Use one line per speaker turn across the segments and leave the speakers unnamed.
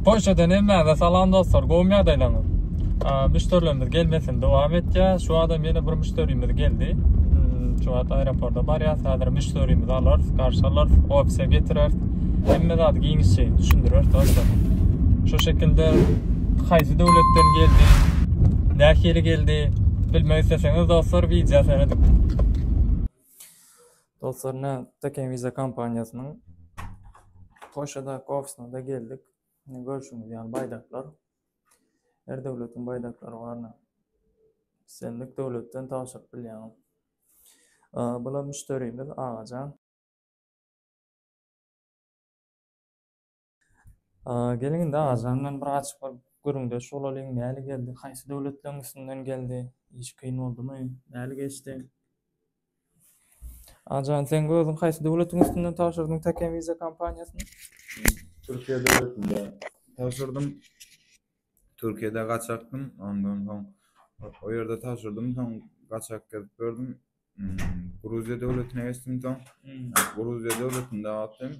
Polşadan hemmäňize salam dostlar. Gowmy ýagdaýlaryňyz? Müşderilerimiz gelmesini dowam etýär. Şu adam ýene bir müşderimiz geldi. Hmm, şu wagt aeroporta barýar. Häzir müşderimizi alar, garşy alar, ofise getirer. Hemme zady giňişçe düşündirer dostlar. Şu şekilde haýsy döwletden geldi, nähili geldi bilmek isleseňiz dostlar wideo seredip. Dostlar ne Teken Visa kompaniýasynyň Polşadaky ofisyna-da geldik. Ne görşüňiz ýaly baýdaklar. Her döwletiň baýdaklary bar. Islendik döwletden tabşyryp bilýäňiz. Bular müşderimiz Agajan. Geliň indi Azan bilen bir gaçyp bir gürrüňdeş bolalyň, näle geldi, haýsy döwletleň üstünden geldi, iş kyn boldumy, näle geçdi? Azan sen özüň haýsy döwletiň üstünden tabşyrdyň Taken Visa kompaniýasyny? Türkiýe
döwletinde tabşyrdym. Türkiýede gaçakdym, ondan soň o ýerde tabşyrdym, soň gaçak gezip gördüm. Gruziýa döwletine geçdim soň. Gruziýa döwletinde atdym.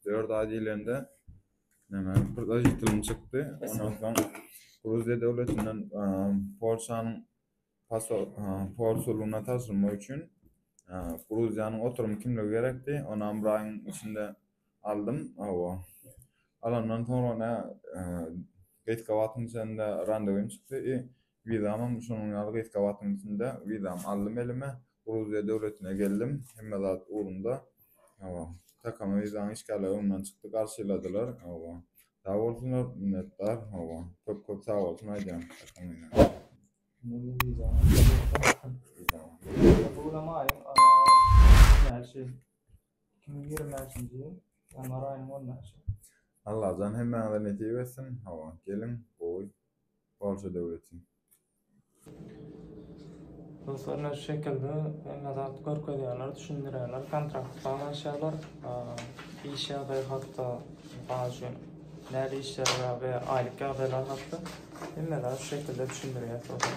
4 aý diýlende näme prozitilim çykdy. Ondan soň Gruziýa döwletinden Polşanyň konsullygyna tabşyrmak üçin Gruziýanyň oturum kimligi gerekdi. Ony bir aýyň içinde aldym. Hawa. Alandan soňra ne Gaýtgabatyň içinde randewim çykdy. Wizamam şonuň ýaly gysga wagtyň içinde wizamy aldym elime, Gruziýa döwletine geldim, hemme zat ugrunda. Hawa, kakama wizaň işgärleri öňden çykdy, garşyladylar. Hawa, sag bolsunlar, minnetdar. Hawa, köp-köp sag bolsun aýdýan kakam meňem. Şonda wizaňy aldyň, wizaňy? Bu ýylam aýyň näçesi? Iki müň ýigrimänçinji ýyl ýanwar aýynyň on bäşi. Allajan hemmäňize nesip etsin hawa geliň gowy Polşa döwleti.
Ruslar ne şu şekilde hemme zat görkezýärler düşündirýärler kontrakt baglaşýarlar iş ýagdaýy hakda mysal üçin nädip işleriňe we aýlyk ýagdaýlar hakda hemme zat şu şekilde düşündirýär soraň.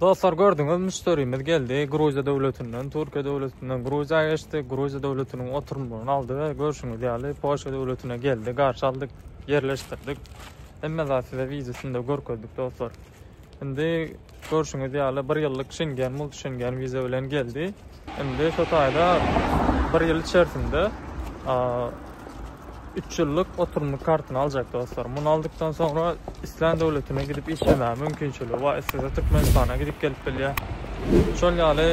Dostlar gördüňiz müşderimiz geldi Gruziýa döwletinden, Türkiýe döwletinden Gruziýa geçdi. Gruziýa döwletiniň oturumlaryny aldy we görşüňiz ýaly Polşa döwletine geldi. Garşy aldyk, ýerleşdirdik. Hemme zat size wideosynda görkezdik dostlar. Indi görşüňiz ýaly bir ýyllyk Şengen, multi Şengen wiza bilen geldi. Indi şu taýda bir ýyl içerisinde üç ýyllyk oturymlyk kartyny aljak dostlar. Muny aldykdan soňra islän döwletine gidip işlemäge mümkinçiligi bar. Istese Türkmenistana gidip gelip bilýär. Şol ýaly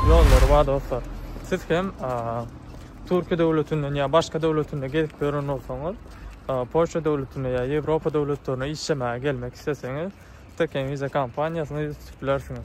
ýollary bar dostlar. Siz hem Türkiýe döwletinden ýa başga döwletinde gezip gören bolsaňyz, Polşa döwletine ýa Ýewropa döwletlerine işlemäge gelmek isleseňiz, Steken Visa kompaniýasyny tutabilirsiniz.